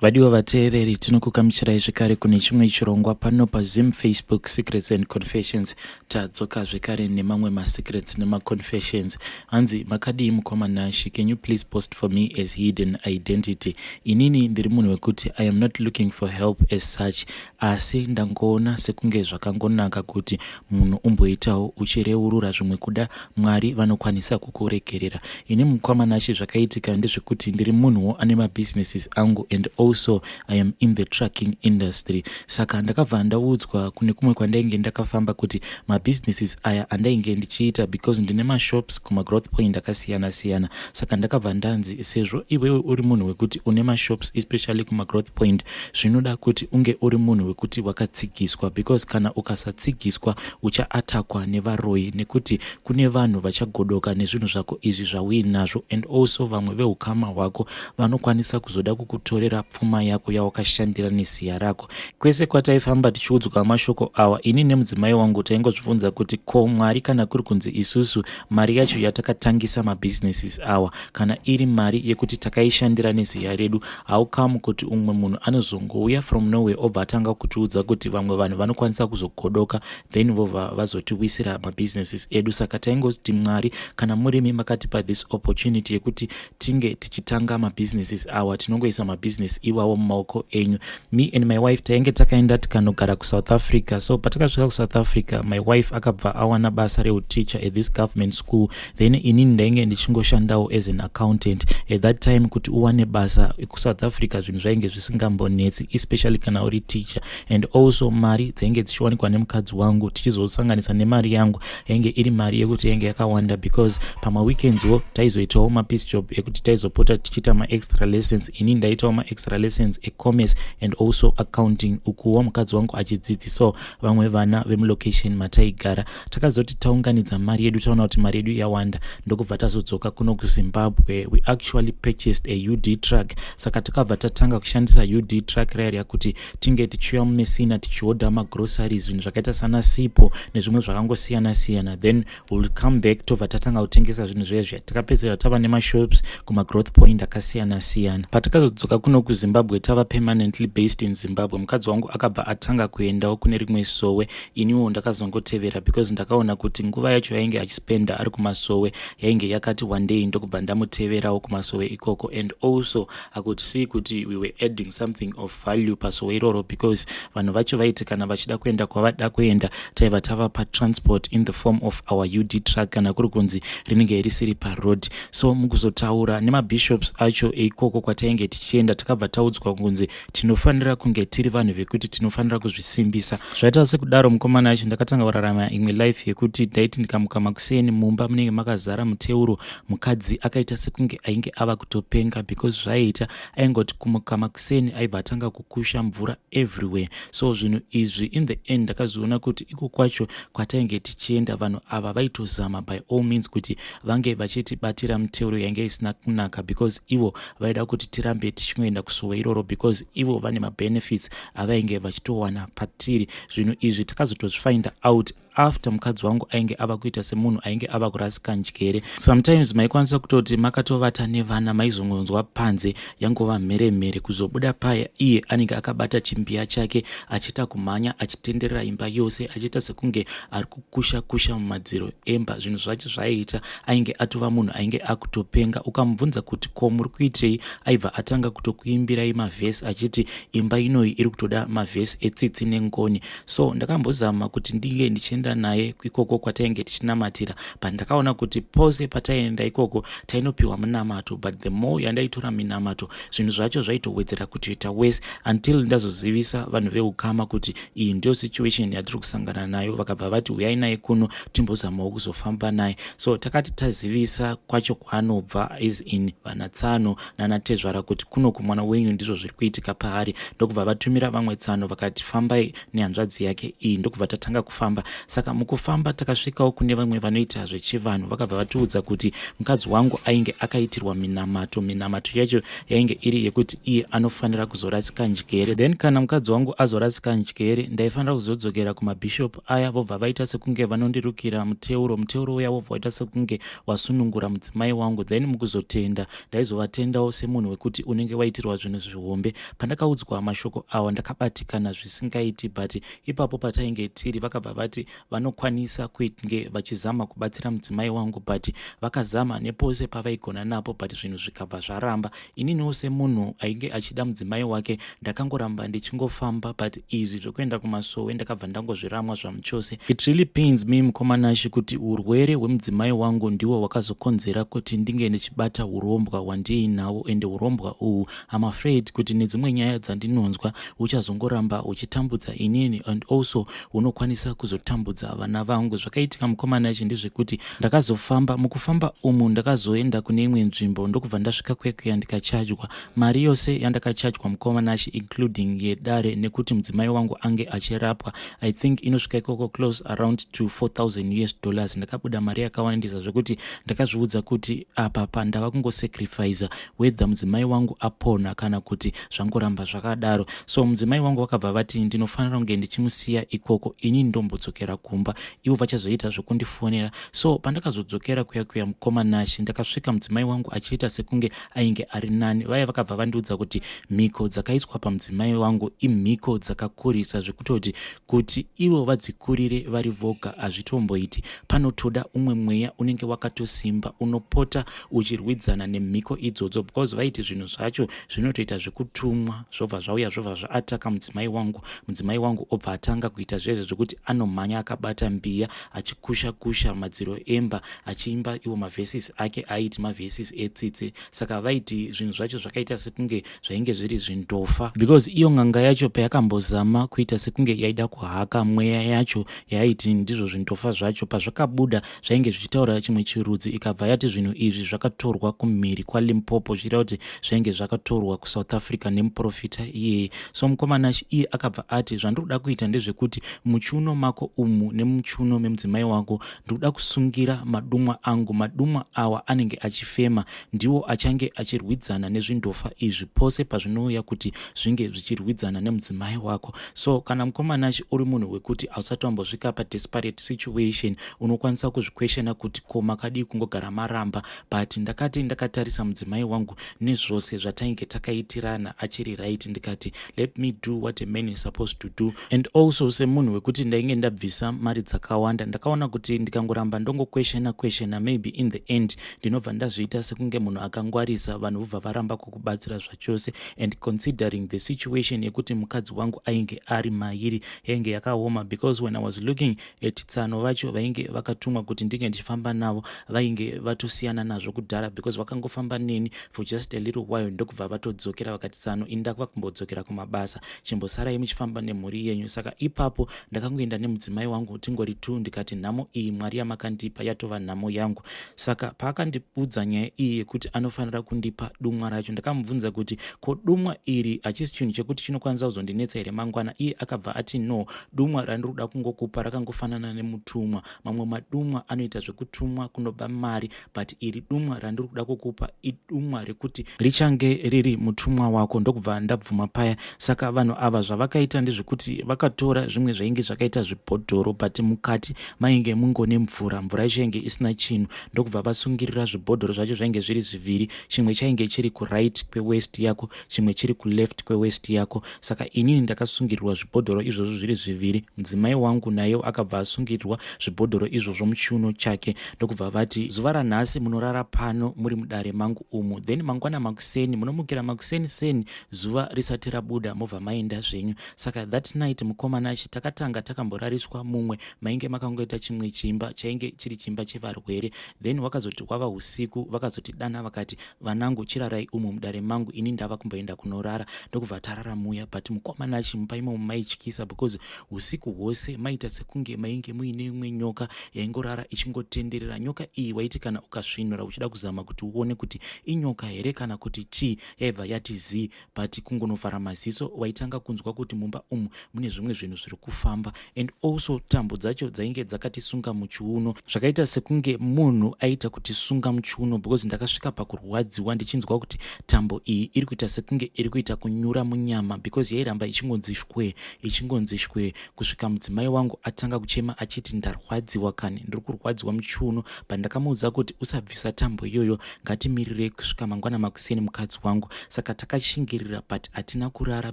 Vadiwa vateereri, tinokukamuchirai zvekare kune chimwe chirongwa pano paZim Facebook Secrets and Confessions. Tadzoka zvekare nemamwe masecrets nemaconfessions. Hanzi makadii mukoma Nashi, can you please post for me as hidden identity? Inini ndiri munhu wekuti I am not looking for help as such. asi ndangoona sekunge zvakangonaka kuti munhu umboitawo uchireurura zvimwe kuda mwari vanokwanisa kukuregerera ini mukwamanashe zvakaitika ndezvekuti ndiri munhuwo ane mabusinesses angu and also i am in the trucking industry saka ndakabva ndaudzwa kune kumwe kwandainge ndakafamba kuti mabusinesses aya andainge ndichiita because ndine mashops kumagrowth point akasiyana siyana saka ndakabva ndanzi sezvo iwewe uri munhu wekuti une mashops especially kumagrowth point zvinoda kuti unge uri munhu wekuti wakatsigiswa because kana ukasatsigiswa uchaatakwa nevaroyi nekuti kune vanhu vachagodoka nezvinhu zvako izvi zvauinazvo and also vamwe veukama hwako vanokwanisa kuzoda kukutorera pfuma yako yawakashandira neziya rako kwese kwataifamba tichiudzwa mashoko awa ini nemudzimai wangu taingozvibvunza kuti ko mwari kana kuri kunzi isusu mari yacho yatakatangisa mabhizinesis awa kana iri mari yekuti takaishandira neziya redu How come kuti umwe munhu anozongouya from nowhere obva atanga kutiudza kuti vamwe vanhu vanokwanisa kuzogodoka then vova vazotiwisira mabusinesses edu saka taingoti mwari kana murimi makatipa this opportunity yekuti tinge tichitanga mabusinesses awa tinongoisa mabusiness iwawo mumaoko enyu me and my wife tainge takaenda tikanogara kusouth africa so patakasvika kusouth africa my wife akabva awana basa reuticha at this government school then inini ndainge ndichingoshandawo as an accountant at that time kuti uwane basa kusouth africa zvinhu zvainge zvisingambonetsi especially kana uri teacher and also mari dzainge dzichiwanikwa nemukadzi wangu tichizosanganisa nemari yangu yainge iri mari yekuti yainge yakawanda because pamaweekendswo taizoitawo mapiece job ekuti taizopota tichiita maextra lessons ini ndaitawo maextra lessons ecommerce and also accounting ukuwo mukadzi wangu achidzidzisawo vamwe vana vemulocation mataigara takazoti taunganidza mari yedu taona kuti mari yedu yawanda ndokubva tazodzoka kuno kuzimbabwe we actually purchased a ud truck saka takabva tatanga kushandisa ud truck raya riya kuti tinge tichiuya mumesina tichihodha magroceries zvinhu zvakaita sana sipo nezvimwe zvakangosiyana siyana then will come back tobva tatanga kutengesa zvinhu zvezve takapedzera tava nemashops kumagrowth point akasiyana siyana patakazodzoka kuno kuzimbabwe tava permanently based in zimbabwe mukadzi wangu akabva atanga kuendawo kune rimwe sowe iniwo ndakazongotevera because ndakaona kuti nguva yacho yainge achispenda ari kumasowe yainge yakati wandei ndokubva ndamuteverawo kumasowe ikoko and also i could see kuti we were adding something of value pasowe iroro because vanhu vacho vaiti kana vachida kuenda kwavada kuenda taiva tava patransport in the form of our ud truck kana kuri kunzi rinenge risiri paroad so mukuzotaura nemabishops acho eikoko kwatainge tichienda takabva taudzwa kunzi tinofanira kunge tiri vanhu vekuti tinofanira kuzvisimbisa zvaita sekudaro mukomana yacho ndakatanga kurarama imwe life yekuti ndaiti ndikamuka makuseni mumba munenge makazara muteuro mukadzi akaita sekunge ainge ava kutopenga because zvaiita aingoti kumuka makuseni aibva atanga kukusha mvura everywhere so zvinhu izvi in the end ndakazviona kuti iko kwacho kwatainge tichienda vanhu ava vaitozama by all means kuti vange vachitibatira muteuro yainge isina kunaka because ivo vaida kuti tirambe tichingoenda kusuwa iroro because ivo vane mabenefits avainge vachitowana patiri zvinhu izvi takazotozvifinda out after mukadzi wangu ainge ava kuita semunhu ainge ava kurasika njere sometimes maikwanisa kutoti makatovata nevana maizongonzwa panze yangova mhere mhere kuzobuda paya iye anenge akabata chimbiya chake achiita kumhanya achitenderera imba yose achiita sekunge ari kusha kusha mumadziro emba zvinhu zvacho zvaiita ainge atova munhu ainge akutopenga ukamubvunza kuti ko muri kuitei aibva atanga kutokuimbirai mavhesi achiti imba inoyi iri kutoda mavhesi etsitsi nengoni so ndakambozama kuti ndinge ndichienda naye ikoko kwatainge tichinamatira but ndakaona kuti pose pataienda ikoko tainopiwa munamato but the more yandaitora minamato zvinhu zvacho zvaitowedzera kutoita wese until ndazozivisa vanhu veukama kuti iyi ndiyo situation yatiri kusangana nayo vakabva vati huyai naye kuno timbozamawo kuzofamba naye so takati tazivisa kwacho kwaanobva is in vanatsano nanatezvara kuti kuno kumwana wenyu ndizvo zviri kuitika paari ndokubva vatumira vamwe tsano vakati fambai nehanzvadzi yake iyi ndokubva tatanga kufamba saka mukufamba takasvikawo kune vamwe vanoita zvechivanhu vakabva vatiudza kuti mukadzi wangu ainge akaitirwa minamato minamato yacho yainge iri yekuti iye anofanira kuzorasika njere then kana mukadzi wangu azorasika njere ndaifanira kuzodzokera kumabishop aya vobva vaita sekunge vanondirukira muteuro muteuro uya wobva waita sekunge wasunungura mudzimai wangu then mukuzotenda ndaizovatendawo semunhu wekuti unenge waitirwa zvinhu zvihombe pandakaudzwa mashoko awa ndakabatikana zvisingaiti but ipapo patainge tiri vakabva vati vanokwanisa kuitnge vachizama kubatsira mudzimai wangu but vakazama nepose pavaigona napo but zvinhu zvikabva zvaramba ininiwo semunhu ainge achida mudzimai wake ndakangoramba ndichingofamba but izvi zvekuenda kumasowe ndakabva ndangozviramwa zvamuchose it really pains me mukomanashi kuti urwere hwemudzimai wangu ndiwo wakazokonzera kuti ndinge ndichibata urombwa hwandiinawo ende urombwa uhwu I'm afraid kuti nedzimwe nyaya dzandinonzwa uchazongoramba uchitambudza inini and also unokwanisa kuzotambudza vana vangu. Zvakaitika mukomana yacho ndezvekuti ndakazofamba, mukufamba umu ndakazoenda kune imwe nzvimbo ndokubva ndasvika kwekuya ndikachajwa. Mari yose yandakachajwa mukomana yacho including yedare nekuti mudzimai wangu ange achirapwa I think inosvika ikoko close around to 4000 US dollars. Ndakabuda mari yakawandisa zvekuti ndakazviudza kuti apa pandava kungosacrifiza whether mudzimai wangu apona kana kuti zvangoramba zvakadaro so mudzimai wangu vakabva vati ndinofanira kunge ndichimusiya ikoko ini ndombodzokera kumba ivo vachazoita zvekundifonera so pandakazodzokera kuya kuya mukoma nashe ndakasvika mudzimai wangu achiita sekunge ainge ari nani vaya vakabva vandiudza kuti mhiko dzakaiswa pamudzimai wangu imhiko dzakakurisa zvekutoti Kuti ivo vadzikurire vari voga hazvitomboiti. Panotoda umwe mweya unenge wakatosimba unopota uchirwidzana nemhiko idzodzo because vaiti zvinhu zvacho zvinotoita zvekutumwa zvobva zvauya zvobva zvaataka mudzimai wangu mudzimai wangu obva atanga kuita zvezve zvekuti anomhanya akabata mbiya achikusha kusha madziro emba achiimba iwo mavhesis ake aiti mavhesis etsitse saka vaiti zvinhu zvacho zvakaita sekunge zvainge zviri zvindofa because iyo ng'anga yacho payakambozama kuita sekunge yaida kuhaka mweya yacho yaiti ndizvo zvindofa zvacho pazvakabuda zvainge zvichitaura chimwe chirudzi ikabva yati zvinhu izvi zvakatorwa kumhiri kwalimpopo zvichita kuti zvainge zvakatorwa kusouth africa nemuprofita iyeye so mukomana iye akabva ati zvandiri kuda kuita ndezvekuti muchiuno mako umu nemuchiuno memudzimai wako ndiri kuda kusungira madumwa angu madumwa awa anenge achifema ndiwo achange achirwidzana nezvindofa izvi pose pazvinouya kuti zvinge zvichirwidzana nemudzimai wako so kana mukomana chi uri munhu wekuti hausati wambosvika padesperate situation unokwanisa kuzvikweshena kuti ko makadii kungogara maramba but ndakati ndakatarisa mudzimai wangu nezvose zvatainge takaitirana achiri right ndikati let me do what a man is supposed to do and also semunhu wekuti ndainge ndabvisa mari dzakawanda ndakaona kuti ndikangoramba ndongokweshena kweshena maybe in the end ndinobva ndazviita sekunge munhu akangwarisa vanhu vobva varamba kukubatsira zvachose and considering the situation yekuti mukadzi wangu ainge ari mairi yainge yakaoma because when i was looking at tsano vacho vainge vakatumwa kuti ndinge ndichifamba navo vainge vatosiyana nazvo kudhara because vakangofamba neni for just a little while ndokubva vatodzokera vakati tsano ini ndakuva kumbodzokera kumabasa chimbosarai muchifamba nemhuri yenyu saka ipapo ndakangoenda nemudzimai wangu tingori two ndikati nhamo iyi mwari yamakandipa yatova nhamo yangu saka paakandiudza nyaya iyi yekuti anofanira kundipa dumwa racho ndakamubvunza kuti ko dumwa iri hachisi chinhu chekuti chinokwanisa kuzondinetsa here mangwana iye akabva ati no dumwa randiri kuda kungokupa rakangofanana nemutumwa mamwe madumwa anoita zvekutumwa kunoba mari but iri dumwa randiri kuda kukupa idumwa rekuti richange riri mutumwa wako ndokubva ndabvuma paya saka vanhu ava zvavakaita ndezvekuti vakatora zvimwe zvainge zvakaita zvibhodhoro but mukati mainge mungone mvura mvura yacho yainge isina chinhu ndokubva vasungirira zvibhodhoro zvacho zvainge zviri zviviri chimwe chainge chiri kuright kwewest yako chimwe chiri kuleft kwewest yako saka inini ndakasungirirwa zvibhodhoro izvozvo zviri zviviri mudzimai wangu naye akabva asungirirwa zvibhodhoro izvozvo muchiuno chake ndokubva vati zuva ranhasi munorara pano muri mudare mangu umu then mangwana makuseni munomukira makuseni seni zuva risati rabuda mobva maenda zvenyu saka that night mukoma nashe takatanga takamborariswa mumwe mainge makangoita chimwe chimba chainge chiri chimba chevarwere then wakazoti kwava usiku vakazoti dana vakati vanangu chirarai umu mudare mangu ini ndava kumboenda kunorara ndokubva tarara muya but mukoma nashe mumba imomo maityisa because usiku hwose maita sekunge mainge muine imwe nyoka yaingorara ichingotenderera nyoka iyi waiti kana ukasvinura uchida kuzama kuti uone kuti inyoka here kana kuti chii yaibva yati zii but kungonovhara maziso waitanga kunzwa kuti mumba umu mune zvimwe zvinhu zviri kufamba and also tambo dzacho dzainge dzakatisunga muchiuno zvakaita sekunge munhu aita kutisunga muchiuno because ndakasvika pakurwadziwa ndichinzwa kuti tambo iyi iri kuita sekunge iri kuita kunyura munyama because yairamba ichingonzi shwee ichingonzi shwee kusvika mudzimai wangu atanga kuchema achiti ndarwadziwa kani ndiri kurwadziwa muchiuno pandakamuudza kuti usabvisa tambo iyoyo ngatimirirei kusvika mangwana makuseni mukadzi wangu saka takashingirira but hatina kurara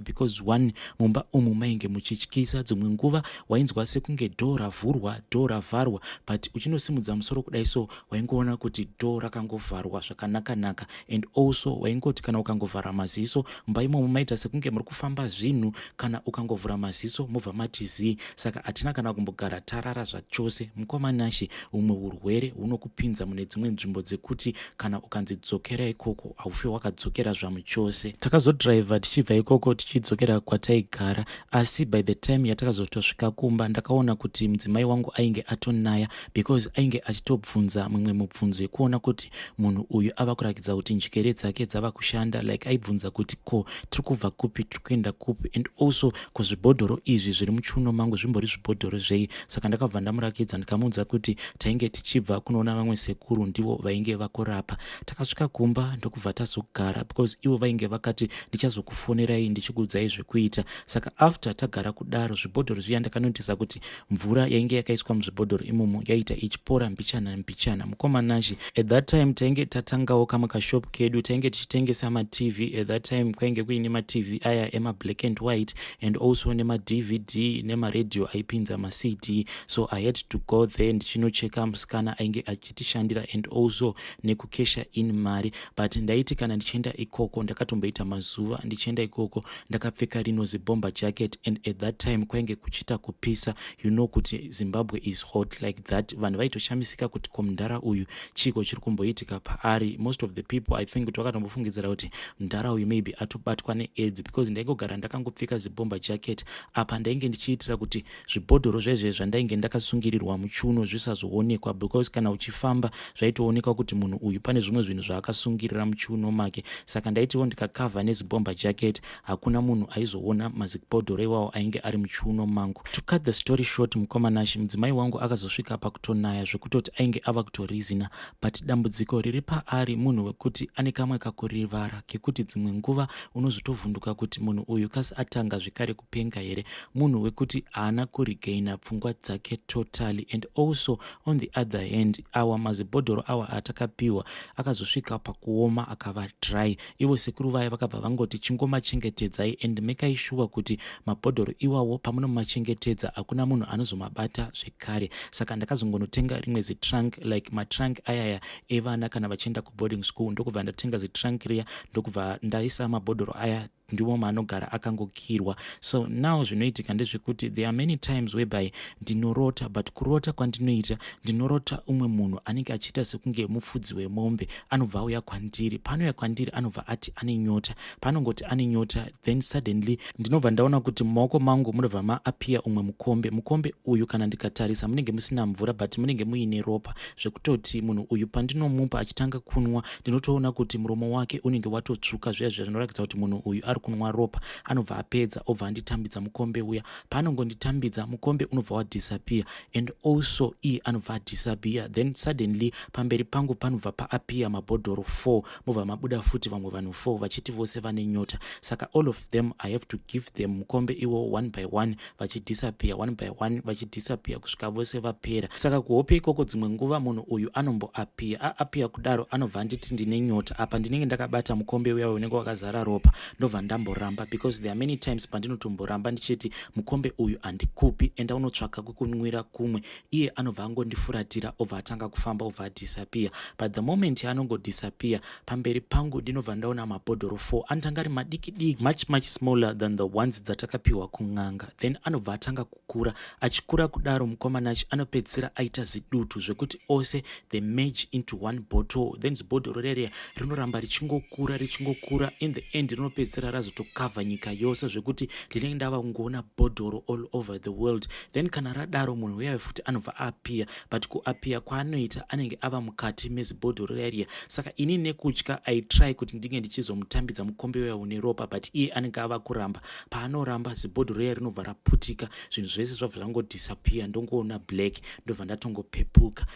because one mumba umu mainge muchityisa dzimwe nguva wainzwa sekunge dhoo ravhurwa dhoo ravharwa but uchinosimudza musoro kudai so waingoona kuti dhoo rakangovharwa zvakanakanaka and also waingoti kana ukangovhara maziso mumba imomo maita sekunge muri kufamba zvinhu kana ukangovhura maziso mobva mati zii saka hatina kana kumbogara tarara zvachose mukoma nashe humwe urwere hunokupinza mune dzimwe nzvimbo dzekuti kana ukanzi dzokera ikoko haufe wakadzokera zvamuchose takazodriver tichibva ikoko tichidzokera kwataigara asi by the time yatakazotosvika kumba ndakaona kuti mudzimai wangu ainge atonaya because ainge achitobvunza mumwe mubvunzo yekuona kuti munhu uyu ava kurakidza kuti njikere dzake dzava kushanda like aibvunza kuti ko tiri kubva kupi tiri kuenda kupi and also ko zvibhodhoro izvi zviri muchuno mangu zvimbori zvibhodhoro zvei saka ndakabva ndamurakidza ndikamuudza kuti tainge tichibva kunoona vamwe sekuru ndivo vainge vakurapa takasvika kumba ndokubva tazogara because ivo vainge vakati ndichazokufonerai ndichikuudzai zvekuita saka after tagara kudaro zvibhodhoro zviya ndakanotisa kuti mvura yainge yakaiswa muzvibhodhoro imomo yaiita ichipora mbichana mbichana mukoma nashe at that time tainge tatangawo kamwe kashop kedu tainge tichitengesa matv at that time kwainge kuine matv aya emablack and white and also nemadvd nemaradio aipinza macd so i had to go there ndichinocheka musikana ainge achitishandira and also nekukesha in mari but ndaiti kana ndichienda ikoko ndakatomboita mazuva ndichienda ikoko ndakapfeka rino zibomba jacket and at that time kwainge kuchiita kupisa you know kuti zimbabwe is hot like that vanhu vaitoshamisika kuti ko mdhara uyu chiiko chiri kumboitika paari most of the people i think kuti vakatombofungidzira kuti mdhara uyu maybe atobatwa needzi because ndaingogara ndakangopfeka zibomba jacket apa ndainge ndichiitira kuti zvibhodhoro zvaizve zvandainge ndakasungirirwa muchiuno zvisazoonekwa because kana uchifamba zvaitoonekwa kuti munhu uyu pane zvimwe zvinhu zvaakasungirira muchiuno make saka ndaitiwo ndikakavha nezibomba jacket hakuna munhu aizoona mazibhodhoro iwawo ainge ari muchiuno mangu to cut the story short mukoma nashe mudzimai wangu akazosvika pakutonaya zvekutoti ainge ava kutorizina but dambudziko riri paari munhu wekuti ane kamwe kakurivara kekuti dzimwe nguva unozotovhunduka kuti munhu uyu kasi atanga zvekare kupenga here munhu wekuti haana kuregaina pfungwa dzake totally and also on the other hand awa mazibhodhoro awa atakapiwa akazosvika pakuoma akava dry ivo sekuru vaya vakabva vangoti chingomachengetedzai and mekai shuwa kuti mabhodhoro iwawo pamunomachengetedza hakuna munhu anozomabata zvekare saka ndakazongonotenga rimwe zitrunk like matrunk ayaya evana kana vachienda kuboarding school ndokubva ndatenga zitrunk riya ndokubva ndaisa mabhodhoro aya ndimo maanogara akangokirwa so now zvinoitika ndezvekuti there are many times whereby ndinorota but kurota kwandinoita ndinorota umwe munhu anenge achiita sekunge mufudzi wemombe anobva auya kwandiri paanouya kwandiri anobva ati ane nyota paanongoti ane nyota then suddenly ndinobva ndaona kuti mumaoko mangu munobva maapiya umwe mukombe mukombe uyu kana ndikatarisa munenge musina mvura but munenge muine ropa zvekutoti munhu uyu pandinomupa achitanga kunwa ndinotoona kuti muromo wake unenge watotsvuka zviya zviya zvinoratidza kuti munhu uyu ari kunwa ropa anobva apedza obva anditambidza mukombe uya paanongonditambidza mukombe unobva wadisappear and also iye anobva adisappear then suddenly pamberi pangu panobva paappear mabhodhoro four mobva mabuda futi vamwe vanhu four vachiti vose vane nyota saka all of them i have to give them mukombe iwo one by one vachidhisapiya one by one vachidhisapiya kusvika vose vapera saka kuhope ikoko dzimwe nguva munhu uyu anomboapiya aapiya kudaro anobva anditi ndine nyota apa ndinenge ndakabata mukombe uya unenge wakazara ropa ndobva ndamboramba because there are many times pandinotomboramba ndichiti mukombe uyu handikupi enda unotsvaka kwekunwira kumwe iye anobva angondifuratira obva atanga kufamba obva adisappear but the moment yaanongodisappear pamberi pangu ndinobva ndaona mabhodhoro 4 anotanga ari madiki diki much much smaller than the ones dzatakapiwa kun'anga then anobva atanga kukura achikura kudaro mukomanachi anopedzisira aita zidutu zvekuti ose the mage into one bottle then zibhodhoro rere rinoramba richingokura richingokura in the end rinopedzisira razotokavha nyika yose zvekuti ndinenge ndava kungoona bhodhoro all over the world then kana radaro munhu uyayo futi anobva apia but kuapia kwaanoita anenge ava mukati mezibhodhoro rariya saka ini nekutya i try kuti ndinge ndichizomutambidza mukombe uya une ropa but iye anenge ava kuramba paanoramba zibhodhoro iya rinobva raputika zvinhu zvese zvabva zvangodisapia ndongoona black ndobva ndatongopepuka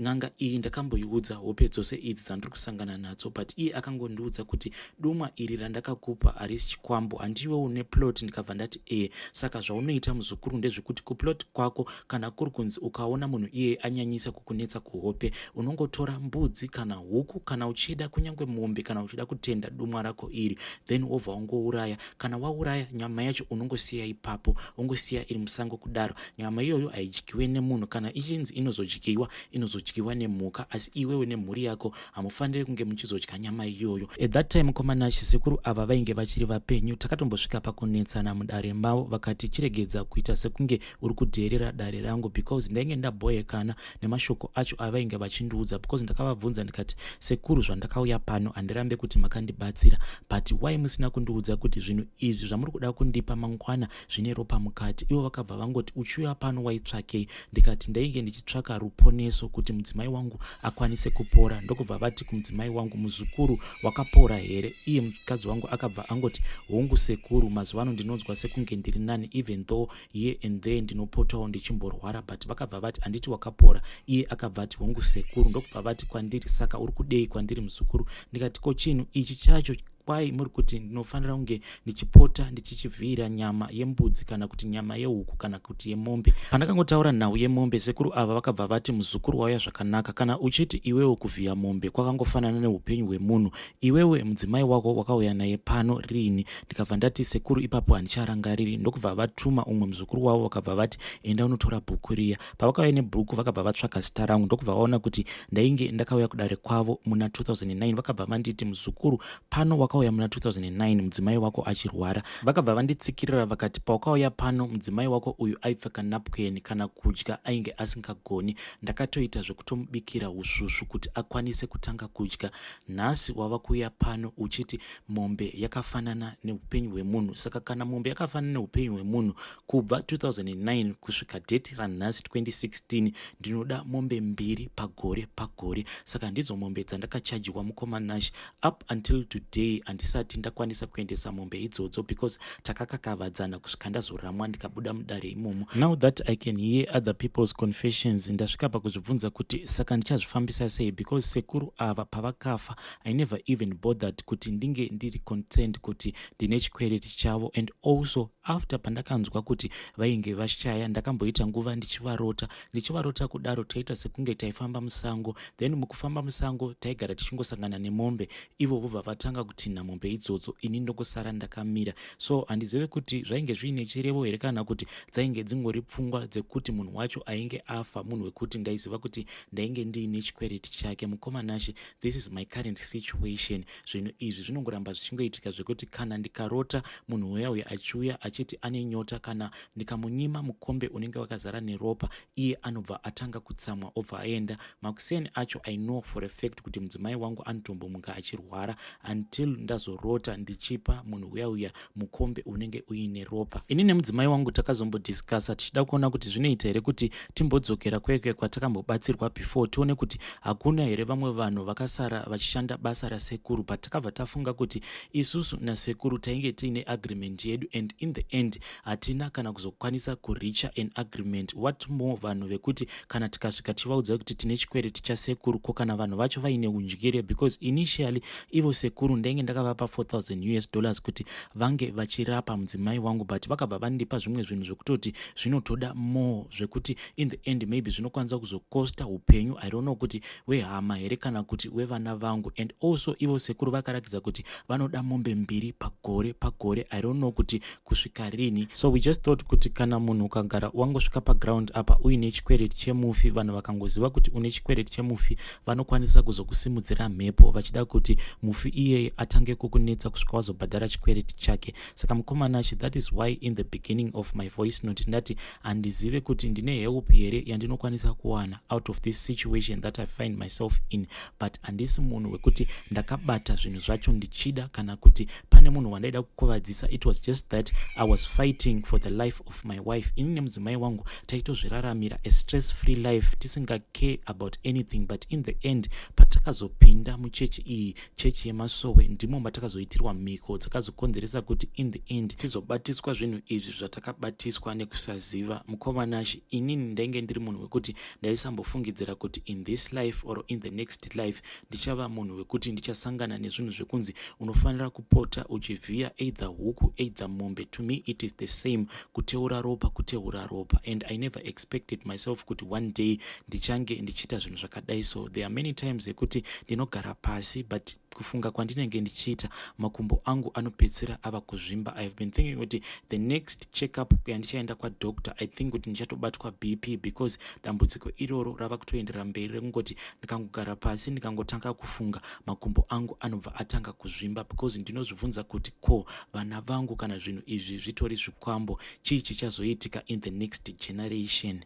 N'anga iyi ndakamboiudza hope dzose idzi dzandiri kusangana nadzo but iye akangondiudza kuti dumwa iri randakakupa harisi chikwambo handiwe une plot ndikabva ndati ee saka zvaunoita muzukuru ndezvekuti kuplot kwako kana kuri kunzi ukaona munhu iyeye anyanyisa kukunetsa kuhope unongotora mbudzi kana huku kana uchida kunyange mombe kana uchida kutenda dumwa rako iri then wobva wangouraya kana wauraya nyama yacho unongosiya ipapo ungosiya iri musango kudaro nyama iyoyo haidyiwe nemunhu kana ichinzi inozodyiwa inozodyiwa nemhuka asi iwewe nemhuri yako hamufanire kunge muchizodya nyama iyoyo at that time mukomana chisekuru ava vainge vachiri vapenyu takatombosvika pakunetsana mudare mavo vakati chiregedza kuita sekunge uri kudheerera dare rangu because ndainge ndaboyekana nemashoko acho avainge vachindiudza because ndakavabvunza ndikati sekuru zvandakauya pano handirambe kuti makandibatsira but why musina kundiudza kuti zvinhu izvi zvamuri kuda kundipa mangwana zvine ropa mukati ivo vakabva vangoti uchiuya pano waitsvakei ndikati ndainge ndichitsvaka ruponeso kuti mudzimai wangu akwanise kupora ndokubva vati kumudzimai wangu muzukuru wakapora here iye mukadzi wangu akabva angoti hongu sekuru mazuva ano ndinonzwa sekunge ndiri nani even though here and there ndinopotawo ndichimborwara but vakabva vati handiti wakapora iye akabva ati hongu sekuru ndokubva vati kwandiri saka uri kudei kwandiri muzukuru ndikati ko chinhu ichi chacho kwai muri kuti ndinofanira kunge ndichipota ndichichivhiira nyama yembudzi kana kuti nyama yehuku kana kuti yemombe pandakangotaura nhau yemombe sekuru ava vakabva vati muzukuru wauya zvakanaka kana uchiti iwewo kuvhiya mombe kwakangofanana neupenyu hwemunhu Iwewe mudzimai wako wakauya naye pano riini? Ndikabva ndati sekuru ipapo handicharangariri ndokubva vatuma umwe muzukuru wavo vakabva vati enda unotora bhuku riya. Pavakauya nebhuku vakabva vatsvaga zita rangu ndokubva vaona kuti ndainge ndakauya kudare kwavo muna 2009 vakabva vanditi muzukuru pano wakauya muna 2009 mudzimai wako achirwara. Vakabva vanditsikirira vakati pawakauya pano mudzimai wako uyu aipfeka napukeni kana kudya ainge asingagoni ndakatoita zvekutomubikira usvusvu kuti akwanise kutanga kudya Nhasi wava kuuya pano uchiti mombe yakafanana neupenyu hwemunhu. Saka kana mombe yakafanana neupenyu hwemunhu kubva 2009 kusvika date ranhasi 2016 ndinoda mombe mbiri pagore pagore. Saka ndidzo mombe dzandakachajirwa mukoma Nash up until today handisati ndakwanisa kuendesa mombe idzodzo because takakakavadzana kusvika ndazoramwa ndikabuda mudare imomo now that i can hear other people's confessions ndasvika pakuzvibvunza kuti saka ndichazvifambisa sei because sekuru ava pavakafa i never even bothered kuti ndinge ndiri concerned kuti ndine chikwereti chavo and also after pandakanzwa kuti vainge vashaya ndakamboita nguva ndichivarota ndichivarota kudaro taita sekunge taifamba musango then mukufamba musango taigara tichingosangana nemombe ivo vobva vatanga kutinha mombe idzodzo ini ndokosara ndakamira so handizive kuti zvainge zviine chirevo here kana kuti dzainge dzingori pfungwa dzekuti munhu wacho ainge afa munhu wekuti ndaiziva kuti ndainge ndiine chikwereti chake mukoma nashe this is my current situation zvinhu izvi zvinongoramba zvichingoitika zvekuti kana ndikarota munhu uya uya achiuya achiti ane nyota kana ndikamunyima mukombe unenge wakazara neropa iye anobva atanga kutsamwa obva aenda makuseni acho i know for a fact kuti mudzimai wangu anotombomuka achirwara until ndazorota ndichipa munhu uya uya mukombe unenge uine ropa ini nemudzimai wangu takazombodiscasa tichida kuona kuti zvinoita here kuti timbodzokera kweke kwatakambobatsirwa before tione kuti hakuna here vamwe vanhu vakasara vachishanda basa rasekuru but takabva tafunga kuti isusu nasekuru tainge tiine agreement yedu and in the end hatina kana kuzokwanisa kuricha an agreement what more vanhu vekuti kana tikasvika tichivaudza kuti tine chikwereti chasekuru ko kana vanhu vacho vaine undyire because initially ivo sekuru ndenge ndakavapa 4000 us dollars kuti vange vachirapa mudzimai wangu but vakabva vandipa zvimwe zvinhu zvekutoti zvinotoda more zvekuti in the end maybe zvinokwanisa kuzokosta upenyu i don't know kuti wehama here kana kuti wevana vangu and also ivo sekuru vakarakidza kuti vanoda mombe mbiri pagore pagore i don't know kuti kusvika rini so we just thought kuti kana munhu ukagara wangosvika paground apa uine chikwereti chemufi vanhu vakangoziva kuti une chikwereti chemufi vanokwanisa kuzokusimudzira mhepo vachida kuti mufi iyeye atange kukunetsa kusvika wazobhadhara chikwereti chake saka mukomana achi that is why in the beginning of my voice note ndati handizive kuti ndine help here yandinokwanisa kuwana out of this situation that i find myself in but handisi munhu wekuti ndakabata zvinhu zvacho ndichida kana kuti pane munhu wandaida kukuvadzisa it was just that i was fighting for the life of my wife ini nemudzimai wangu taitozviraramira a stress free life tisingacare about anything but in the end patakazopinda muchechi iyi chechi yemasowe ndimo matakazoitirwa mhiko dzakazokonzeresa kuti in the end tizobatiswa zvinhu izvi zvatakabatiswa nekusaziva mukoma nashe inini ndainge ndiri munhu wekuti ndaisambofungidzira kuti in this life or in the next life ndichava munhu wekuti ndichasangana nezvinhu zvekunzi unofanira kupota uchivhiya either huku either mombe to me it is the same kuteura ropa kuteura ropa and i never expected myself kuti one day ndichange ndichiita zvinhu zvakadai so there are many times ekuti ndinogara pasi but kufunga kwandinenge ndichiita makumbo angu anopedzisira ava kuzvimba ihave been thinking kuti the next checkup yandichaenda kwadoctor i think kuti ndichatobatwa bp because dambudziko iroro rava kutoenderera mberi rekungoti ndikangogara pasi ndikangotanga kufunga makumbo angu anobva atanga kuzvimba because ndinozvibvunza kuti ko vana vangu kana zvinhu izvi zvitori zvikwambo chii chichazoitika in the next generation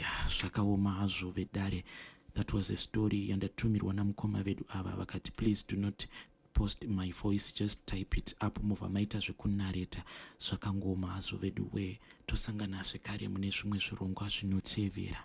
ya zvakaoma hazvo vedare that was a story yandatumirwa namukoma vedu ava vakati please do not post my voice just type it up mobva maita zvekunareta zvakangoma hazvo vedu wee tosangana zvekare mune zvimwe zvirongwa zvinotevera